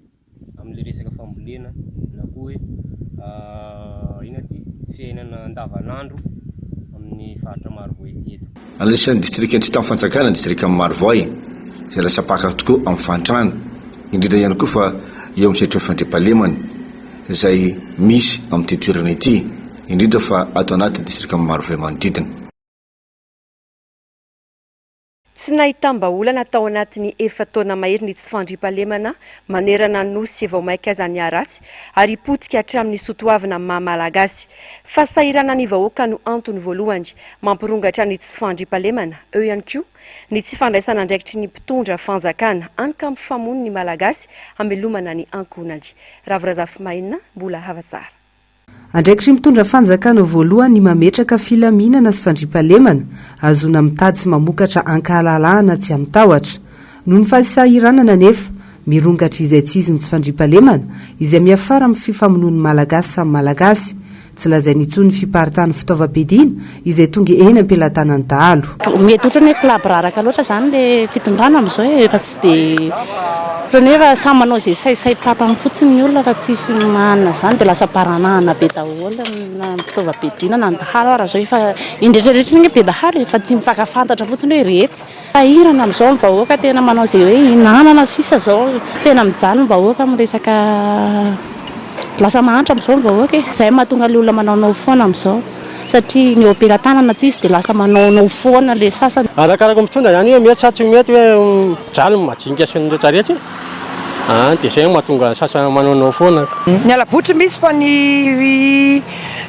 amin'ilay resaka fambolena na koa hoe inona ity fiainana andavan'andro amin'ny faritra Marovoay ity eto. Anisan'ny distrikan'ny tsy tamin'ny fanjakana ny distrikan'i Marovoay izay lasa paka tokoa amin'ny fahantrana indrindra ihany koa fa eo amin'ny sehatry ny fandriampahalemana. izay misy amin'ity toerana ity, indrindra fa ato anaty distrika Marovoay manodidina. Tsy nahitam-bahaolana tao anatin'ny efa-taona mahery ny tsy fandriampahalemana manerana ny Nosy vao mainka aza niharatsy ary potika hatramin'ny soatoavina maha Malagasy. Fahasahiranan'ny vahoaka no antony voalohany mampirongatra ny tsy fandriampahalemana, eo ihany koa, Ny tsy fandraisan'andraikitry ny mpitondra fanjakana ankampifamono ny Malagasy hamelomana ny ankohonany. Ravo Razafimaina mbola hava tsara. Andraikitry ny mpitondra fanjakana voalohany ny mametraka filaminana sy fandriampahalemana, hahazoana mitady sy mamokatra ankahalalahana tsy amin-tahotra. Noho ny fahasahiranana anefa, mirongatra izaitsizy ny tsy fandriampahalemana, izay miafara amin'ny fifamonoan'ny Malagasy samy Malagasy. Tsy lazainy intsony ny fiparitahan'ny fitaovam-piadiana izay tonga eny am-pelatanan'ny dahalo. Mety ohatran'ny hoe kolabraraka loatra izany ilay fitondrana amin'izao e, efa tsy dia, ohatran'ny hoe efa samy manao izay saisai-patany fotsiny ny olona fa tsisy manana izany dia lasa baranahana be daholo na ny fitaovam-piadiana na ny dahalo ara izao efa, indretraretra anie be dahalo e, efa tsy mifankafantatra fotsiny hoe iretsy Sahirana amin'izao ny vahoaka tena manao izay hoe hinanana sisa izao tena mijaly ny vahoaka amin'ny resaka lasa mahantra amin'izao ny vahoaka e! Izay no mahatonga ilay olona manaonao foana amin'izao satria ny eo am-pelatanana tsy izy dia lasa manaonao foana ilay sasany. Arakaraka ny mpitondra ihany hoe mety sa tsy mety hoe mijaly ny majinika sy ny rehetra rehetra e! Dia izay no mahatonga ny sasany manaonao foana. Ny halabotry misy fa ny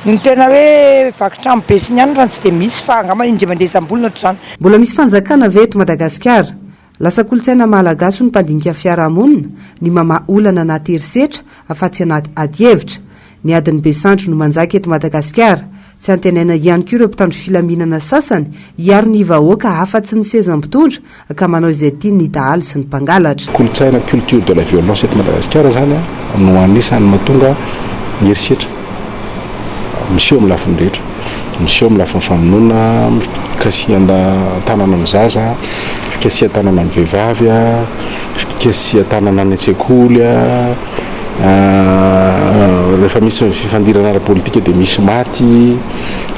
ny tena hoe vaky trano be sy ny anona izany tsy dia misy fa angamba indrimandresa ambolony ohatr'izany. Mbola misy fanjakana ve eto Madagasikara? Lasa kolontsaina Malagasy ho ny mpandinika fiarahamonina ny mamaha olana anaty herisetra fa tsy anaty adihevitra. Ny adin'ny be sandry no manjaka eto Madagasikara. Tsy antenaina ihany koa ireo mpitandro filaminana sasany hiaro ny vahoaka afa-tsy ny seza mpitondra ka manao izay tiany ny dahalo sy ny mpangalatra. Kolontsaina, culture de la violence, eto Madagasikara izany no anisan'ny mahatonga ny herisetra. miseho amin'ny lafiny rehetra, miseho amin'ny lafiny famonoana, fikasihan-tanana ny zaza, fikasihan-tanana ny vehivavy, fikasihan-tanana any an-tsekoly, rehefa misy ny fifandirana ara-politika dia misy maty,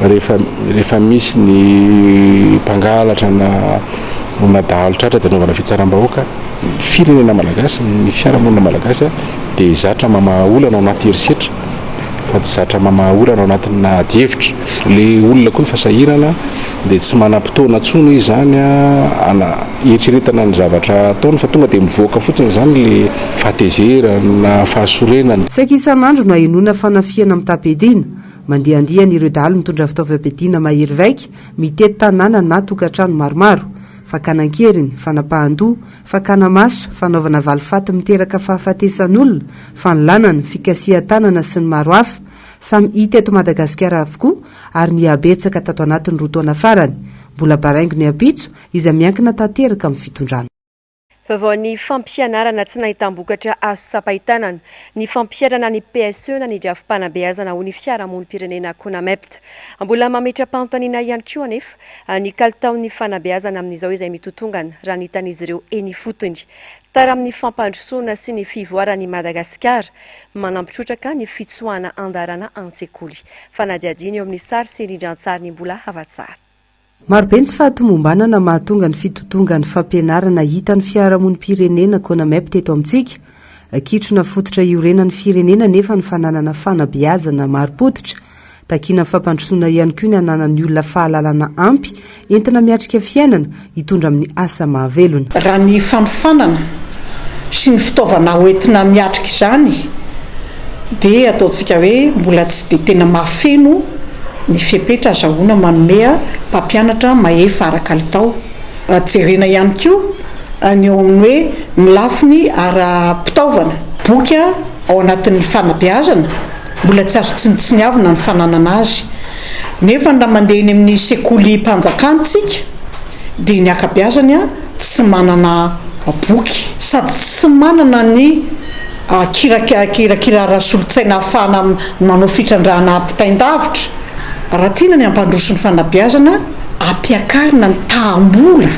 rehefa rehefa misy ny mpangalatra na na dahalo tratra dia anaovana fitsaram-bahoaka, ny firenena malagasy, ny fiarahamonina malagasy. dia zatra mamaha olana ao anaty herisetra fa tsy zatra mamaha olana ao anatinà adihevitra. Le olona koa efa sahirana dia tsy manam-potoana tsony izany ana hieritreretana ny zavatra ataony fa tonga dia mivoaka fotsiny izany le fahatezerany na fahasorenany. Saika isan'andro no ahenoana fanafihana mitam-piadiana. Mandihandiha an'ireo dahalo mitondra fitaovam-piadiana mahery vaika, mitety tanàna na tokantrano maromaro. Fakana an-keriny, fanapahan-doha, fakana maso, fanaovana valifaty miteraka fahafatesan'olona, fanolanana, fikasihan-tanana sy ny maro hafa, samy hita eto Madagasikara avokoa ary nihabetsaka tato anatin'ny roa taona farany. Mbola baraingo ny ampitso, izay miankina tanteraka amin'ny fitondrana. Vaovao ny fampianarana tsy nahitam-bokatra azo tsapain-tanana, ny fampiharana ny PSE na ny drafi-panabeazana ho ny fiarahamonim-pirenena Conamept. Mbola mametra-panontaniana ihany koa anefa Ny kalitaon'ny fanabeazana amin'izao izay mitotongana, raha ny hitan'izy ireo eny ifotony. Tara amin'ny fampandrosoana sy ny fivoaran'i Madagasikara, manampy trotraka ny fitsoahana andarana an-tsekoly. Fanadihadiana eo amin'ny sary sy rindrantsary ny mbola hafatsara. Marobe ny tsy fahatomombanana mahatonga ny fitotongan'ny fampianarana hitan'ny fiarahamonim-pirenena, Conamep, teto amintsika. Kitrona fototra iorenan'ny firenena anefa ny fananana fanabeazana marim-pototra. Takiana fampandrosoana ihany koa ny ananan'ny olona fahalalana ampy entina miatrika fiainana, hitondra amin'ny asa mahavelona. Raha ny fanofanana sy ny fitaovana hoentina miatrika izany dia ataontsika hoe mbola tsy dia tena mahafeno ny fepetra azahoana manome mpampianatra mahefa ara-kalitao. Raha jerena ihany koa ny eo amin'ny hoe ny lafiny ara-pitaovana, boky ao anatin'ny fanabeazana mbola tsy azo tsinontsiniavina ny fananana azy nefa raha mandeha eny amin'ny sekolim-panjakana isika dia ny ankabeazany tsy manana boky sady tsy manana ny kirakira ara-solontsaina ahafahana manao fitrandrahana ampitain-davitra. Raha tiana ny hampandroso ny fanabeazana, ampiakarina ny taham-bola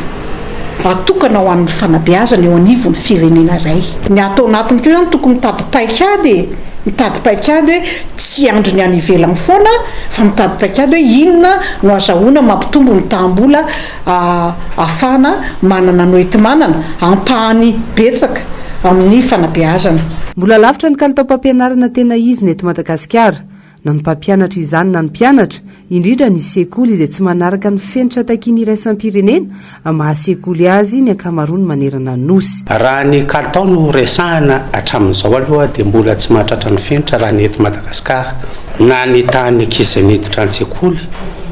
atokana ho an'ny fanabeazana eo anivon'ny firenena iray. Ny ato anatiny koa izany tokony mitady paikady e! Mitady paikady hoe tsy hiandry ny any ivelany foana fa mitady paikady hoe inona no azahoana mampitombo ny taham-bola ahafahana manana noetimanana ampahany betsaka amin'ny fanabeazana. Mbola lavitra ny kalitaom-pampianarana tena izy ny eto Madagasikara. Na ny mpampianatra izany na ny mpianatra, indrindra ny sekoly izay tsy manaraka ny fenitra takian'ny iraisam-pirenena maha sekoly azy ny ankamaroany manerana ny Nosy. Raha ny kalitao no resahana hatramin'izao aloha dia mbola tsy mahatratra ny fenitra raha ny eto Madagasikara na ny tahan'ny ankizy miditra an-tsekoly,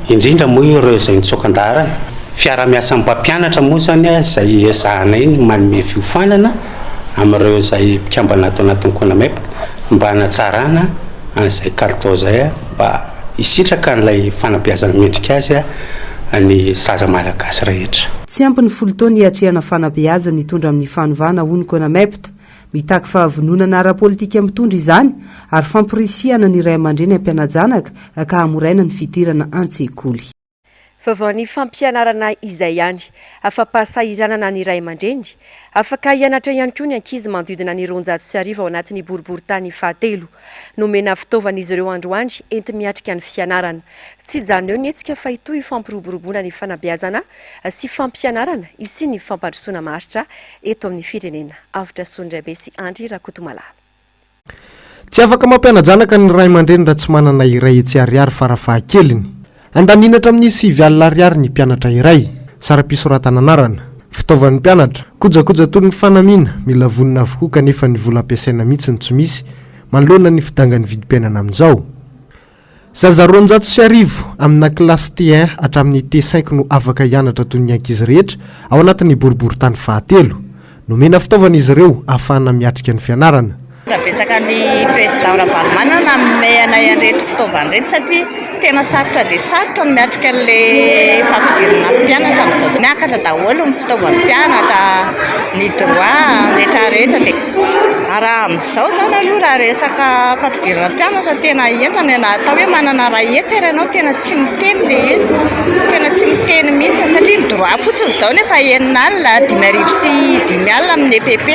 indrindra moa ireo izay nitsoaka an-daharana. Fiaraha-miasan'ny mpampianatra moa izany izay ezahanay ny manome fiofanana. amin'ireo izay mpikambana ato anatin'ny Conamep mba hanatsarana an'izay kalitao izay mba hisitraka an'ilay fanabeazana mendrika azy ny zaza malagasy rehetra. Tsy ampy ny folo taona hiatrehana fanabeazana hitondra amin'ny fanovana, hoy ny Conamept. Mitaky fahavononana ara-politika mitondra izany ary famporisihana ny ray aman-dreny hampiana-janaka ka hamoraina ny fidirana an-tsekoly. Vaovaon'ny fampianarana izay ihany. Afa-pahasahiranana ny ray aman-dreny. Afaka hianatra ihany koa ny ankizy manodidina ny roanjato sy arivo ao anatin'ny boriborintany fahatelo. Nomena fitaovana izy ireo androany enti-miatrika ny fianarana. Tsy hijanona eo ny hetsika fa hitohy io fampiroboroboana ny fanabeazana sy fampianarana hisian'ny fampandrosoana maharitra eto amin'ny firenena. Avotra Soa Ndraibe sy Andry Rakotomalala. Tsy afaka mampiana-janaka ny ray aman-dreny raha tsy manana iray hetsy ariary fara fahakeliny. Andaniny hatramin'ny sivy alina ariary ny mpianatra iray. Saram-pisoratana anarana. Fitaovan'ny mpianatra. Kojakoja toy ny fanamiana, mila vonona avokoa kanefa ny vola ampiasaina mihitsy no tsy misy, manoloana ny fidangan'ny vidim-piainana amin'izao. Zaza roanjato sy arivo amina kilasy T1 hatramin'ny T5 no afaka hianatra toy ny ankizy rehetra ao anatin'ny boriborintany fahatelo. Nomena fitaovana izy ireo ahafahana miatrika ny fianarana. Tena betsaka ny Président Ravalomanana nanome anay an'ireto fitaovana ireto satria tena sarotra dia sarotra ny miatrika an'ilay fampidirana mpianatra amin'izao. Miakatra daholo ny fitaovan'ny mpianatra, ny droit rehetra rehetra dia. Raha amin'izao izany aloha raha resaka fampidirana mpianatra tena henjana e, na atao hoe manana iray hetsy ary ianao tena tsy miteny ilay izy, tena tsy miteny mihitsy satria ny droit fotsiny izao no efa enina alina, dimy arivo sy dimy alina amin'ny EPP,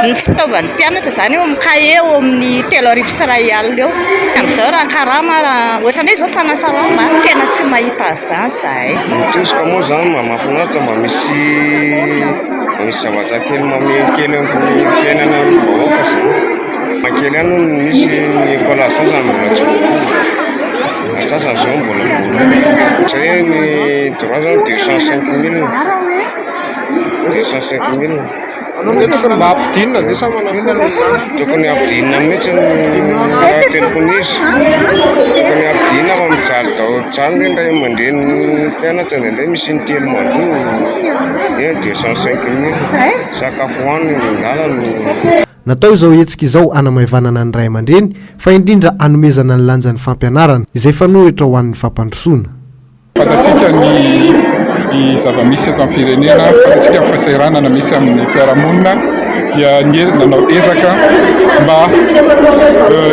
ny fitaovan'ny mpianatra izany eo amin'ny kahie eo amin'ny telo arivo sy iray alina eo, amin'izao raha karama raha, ohatran'ny hoe izao mpanasa lamba a, tena tsy mahita an'izany izahay. Ny tezitra moa izany mba mahafinaritra mba misy Misy zavatra kely mamehy kely eo amin'ny fiainana ny vahoaka zany. Mankeny any hono misy Nicolas antsasany mbola tsy voapoa. Antsasany zao mbola voapoa. Zay hoe ny droit zany deux cent cinq mille. Deux cent cinq mille. Tokony mba ampidinina ve sa manakona izany? Tokony ampidinina mihitsy ny fahatelopony izy. Tokony ampidinina fa mijaly daholo. Zany ve ndray mandeha ny mpianatra indraindray misy intelo mandoa. Dia deux cent cinq mille sakafo hohanina eny an-dalana. Natao izao hetsika izao hanamaivanana ny ray aman-dreny fa indrindra hanomezana ny lanjan'ny fampianarana, izay fanohitra ho an'ny fampandrosoana. Fantatsika ny zava-misy eto amin'ny firenena, fantatsika ny fahasahiranana misy amin'ny mpiara-monina. dia ny nanao ezaka mba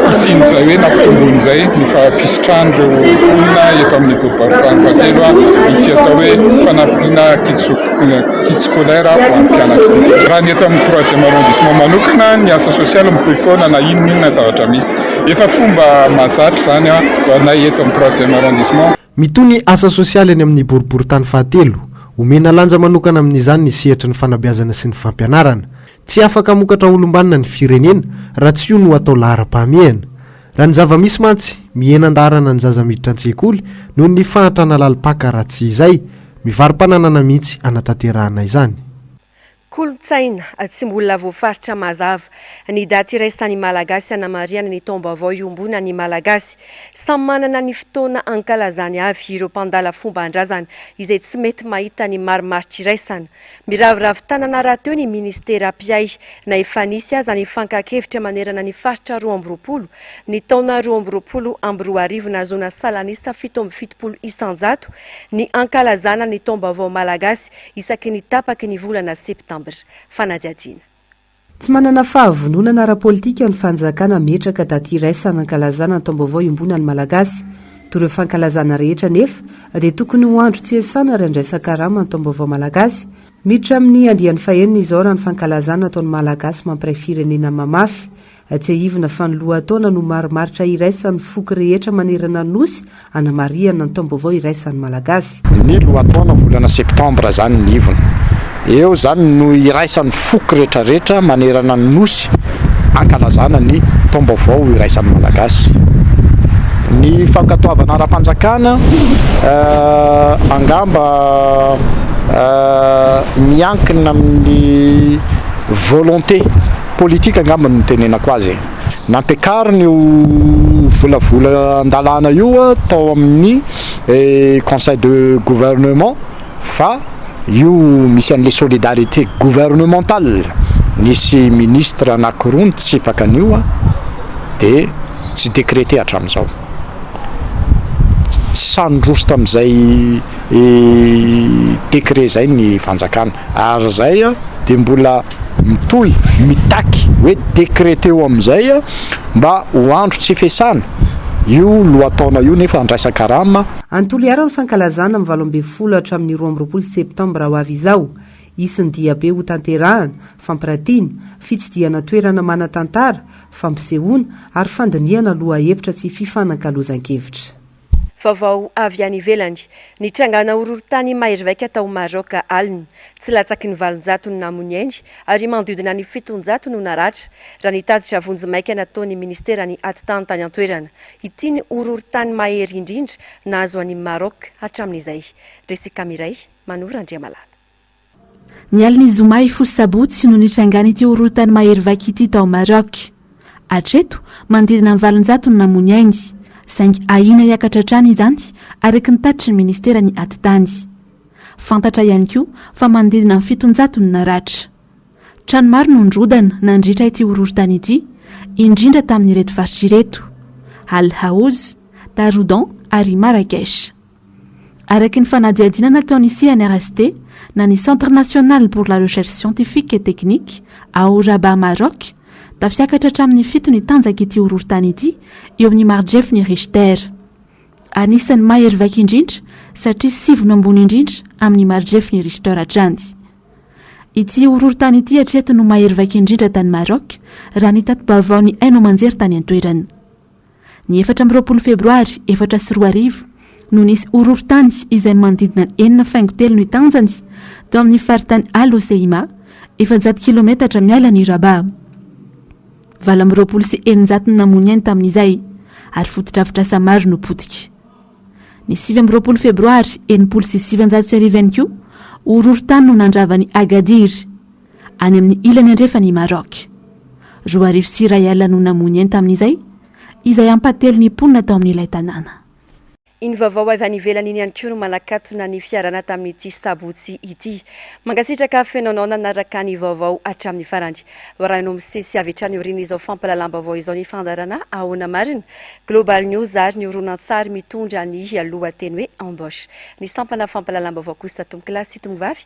hisian'izay hoe nampitomboin'izay ny fisitrahan'ireo mponina eto amin'ny boribarintany fahatelo ity atao hoe fanampiana kit scolaire ho an'ny mpianatra ity. Raha ny eto amin'ny troisième arrondissement manokana ny asa sosialy mitohy foana na inon'inona zavatra misy. Efa fomba mahazatra izany ho anay eto amin'ny troisième arrondissement. Mitohy ny asa sosialy any amin'ny boriborintany fahatelo. Omena lanja manokana amin'izany ny sehatry ny fanabeazana sy ny fampianarana. Tsy afaka hamokatra olom-banona ny firenena raha tsy io no atao laharam-pahamehana. Raha ny zava-misy mantsy, mihena an-daharana ny zaza miditra an-tsekoly noho ny fahantrana lalim-paka raha tsy izay, mivaro-pananana mihitsy hanatanterahana izany. Kolontsaina tsy mbola voafaritra mazava ny daty iraisan'ny Malagasy hanamarihana ny taom-baovao iombonan'ny Malagasy. Samy manana ny fotoana ankalazany avy ireo mpandala fomban-drazana izay tsy mety mahita ny marimaritra iraisana. Miraviravy tanana rahateo ny minisitera mpiahy na efa nisy aza ny fankahakevitra manerana ny faritra roa amby roapolo ny taona roa amby roapolo amby roa arivo nahazoana salanisa fito amby fitopolo isanjato ny ankalazana ny taom-baovao Malagasy isaky ny tapaky ny volana septambra. Fanadihadiana. Tsy manana fahavononana ara-politika ny fanjakana hametraka daty iraisana hankalazana ny taom-baovao iombonan'ny Malagasy. Toa ireo fankalazana rehetra anefa dia tokony ho andro tsy hiasana ary handraisan-karama ny taom-baovao Malagasy. Miditra amin'ny andiany fahenina izao raha ny fankalazana ataon'ny Malagasy mampiray firenena mamafy Tsiahivina fa ny lohataona no marimaritra iraisan'ny foko rehetra manerana ny Nosy hanamarihana ny taom-baovao iraisan'ny Malagasy. Ny lohataona volana septambra izany ny ivony eo izany no iraisan'ny foko rehetrarehetra manerana ny Nosy hankalazana ny taom-baovao iraisan'ny Malagasy. Ny fankatoavana ara-panjakana angamba miankina amin'ny volonté. politika angamba no nitenenako azy e! Nampiakariny io volavola an-dalàna io tao amin'ny conseil de gouvernement fa io misy an'le solidarité gouvernementale nisy ministre anankiroa nitsipaka an'io de tsy décréter hatramin'izao. Tsy samy niroso tamin'izay décret izay ny fanjakana. Ary zay dia mbola mitohy mitaky hoe decreteo amin'izay mba ho andro tsy fiasana io lohataona io nefa handraisan-karama. Any Toliara ny fankalazana amin'ny valo ambin'ny folo hatramin'ny roa amby roapolo septambra ho avy izao. Hisy ny diabe hotanterahana, fampiratiana, fitsidihana toerana manan-tantara, fampisehoana ary fandinihana lohahevitra sy fifanankalozan-kevitra. Vaovao avy any ivelany, Nitrangàna horohorontany mahery vaika tao Maroc alina. Tsy latsaky ny valonjato ny namo ny ainy ary manodidina ny fitonjato no naratra, raha ny tatitra vonjimaika nataon'ny Ministeran'ny Atitany tany an-toerana. Ity ny horohorontany mahery indrindra nahazo an'i Maroc hatramin'izay. Resy Kamiray, Manoro Andriamalala. Ny alin'ny zoma hifoha sabotsy no nitrangan'ity horohorontany mahery vaika ity tao Maroc. Hatreto, manodidina ny valonjato no namoa ny ainy, saingy ahiana hiakatra hatrany izany araka ny tatitry ny ministeran'ny atitany. Fantatra ihany koa fa manodidina ny fitonjato no naratra. Trano maro no nirodana nandritra ity horohorontany ity, indrindra tamin'ireto faritra ireto, Al Haouz, Taroudan ary Marrakech. Araky ny fanadihadiana nataon'ny CNRST, na ny Centre National pour la Recherche Scientifique et Technique, ao Rabat Maroc, da fiakatra hatramin'ny fito ny tanjak'ity horohorontany ity eo amin'ny marijefin'ny Richter. Anisan'ny mahery vaika indrindra satria sivy no ambony indrindra amin'ny marijefin'ny Richter hatrany. Ity horohorontany ity hatreto no mahery vaika indrindra tany Maroc, raha ny tati-baovaon'ny haino aman-jery tany an-toerana. Ny efatra amby roapolo febroary efatra sy roa arivo no nisy horohorontany izay manodidina ny enina faingo telo ny tanjany tao amin'ny faritany Al-Hoceima, efajato kilometatra miala an'i Rabaa. Valo amby roapolo sy eninjato no namoa ny ainy tamin'izay ary fotodrafitrasa maro no potika. Ny sivy amby roapolo febroary enimpolo sy sivinjato sy arivo ihany koa, horohorontany no nandrava an'i Agadir, any amin'ny ilany andrefan' i Maroc. Roa arivo sy iray alina no namoy ny ainy tamin'izay, izay ampahatelon' ny mponina tao amin'ilay tanàna. Iny vaovao avy any ivelany iny ihany koa no manakatona ny fiarahana tamin'ity Sabotsy ity. Mankasitraka feno anao nanaraka ny vaovao hatramin'ny farany. Hoarahinao misesy avy hatrany aorian'izao fampahalalam-baovao izao ny fandaharana Ahoana Marina? Global News ary ny horonantsary mitondra ny lohateny hoe Embauche. Ny sampana fampahalalam-baovao kosa Tompokolahy sy Tomovavy